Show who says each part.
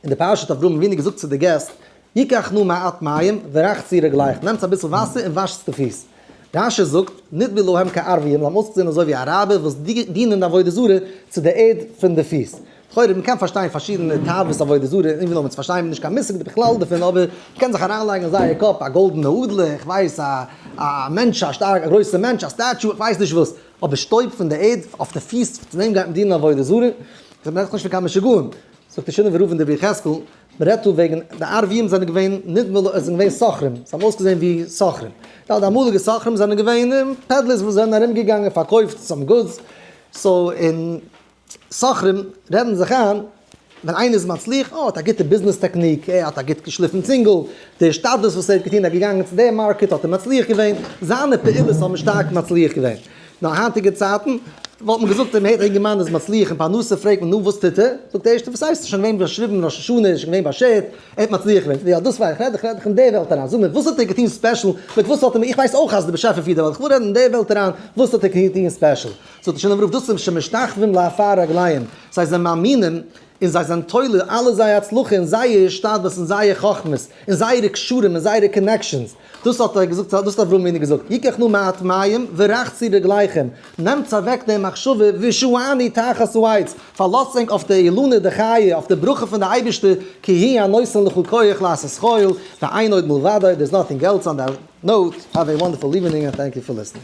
Speaker 1: אין די פרשת אברהם אבינו געזאגט צו די געסט, יקח נא מעט מים ורחצי רגליך, נעמטס אביסל וואסער און וואשטס די פיס. רש י זאגט, נדבו להם כערביים, זיי האבן אויסגעזען אזוי ווי אראבער וואס דינען די עבודה זרה צו די ערד פון די פיס. לכאורה מען קען פארשטיין פארשידענע תאוות עבודה זרה, איך וויל עמעץ פארשטיין, איך בין נישט קיין מושג בכלל דערפון, אבער מען קען זיך אריינלייגן אין זייער קאפ א גאלדענע אדלער, איך ווייס א א מענטש א שטארק א גרויסע מענטש א סטעטשו, איך ווייס נישט וואס, אבער שטויב פון די ערד אויף די פיס, צו דעם גייט מען דינען עבודה זרה? איך רעד נאכנישט פון קיין משוגעים. זאגט די שינעווער רב אין דברי יחזקאל, מען רעדט דא וועגן די אר ווים זענען געווען נדמה לי עס זענען געווען סוחרים, זיי האבן אויסגעזען ווי סוחרים, די אמאליגע סוחרים זענען געווען פעדלערס וואס זענען ארום געגאנגען פארקויפט סאם גודס, סאו אין סוחרים רעדן זיך איין ווען איינער איז מצליח, אה ער האט א גוטע ביזנעס טעקניק, אה ער האט א גוט געשליפן צינגל, די השתדלות וואס ער האט געטון, ער איז געגאנגען צו די מארקעט האט ער מצליח געווען, זיינע פעולות האבן שטארק מצליח געווען. נאר היינטיגע צייטן וואלט מען געזאגט דעם היינטיגן מאן איז מצליח אין פרנסה פרעגט מען נו וואס טוט ער זאגט ערשטע וואס הייסט שוין געווען באשריבן ראש השנה איז שוין געווען באשערט ער האט מצליח געווען יא דאס מיין איך רעד איך רעד איך אין די וועלט אריין זאג מיר וואס האט ער געטון ספעשל מיט וואס האט ער איך ווייס אויך אז די באשעפער פירט די וועלט איך וויל רעדן אין די וועלט אריין וואס האט ער געטון ספעשל זאגט השנה ברוך דאס זענען שמשתחווים לעפר רגליהם זיי זענען מאמינים און זיי זענען תולה אלע זייער הצלחה אין זייער השתדלות אין זייער חכמות אין זייערע קשרים אין זייערע קאנעקשאנס. דאס האט ער געזאגט, דאס האט אברהם אבינו געזאגט, ייקח נא מעט מים ורחצי רגליכם, נעמטס אוועק די מחשבה ושועני תחת העץ, פארלאזט ענק אויף די אילנא דחיי, אויף די ברכה פון די אייבערשטער, כי היא הנותן לך כח לעשות כל, ואין עוד מלבדו, דער איז נאטינג עלס אן די נאוט, האוו עי וואנדערפול איווענינג ענד טענק יו פאר ליסטינג.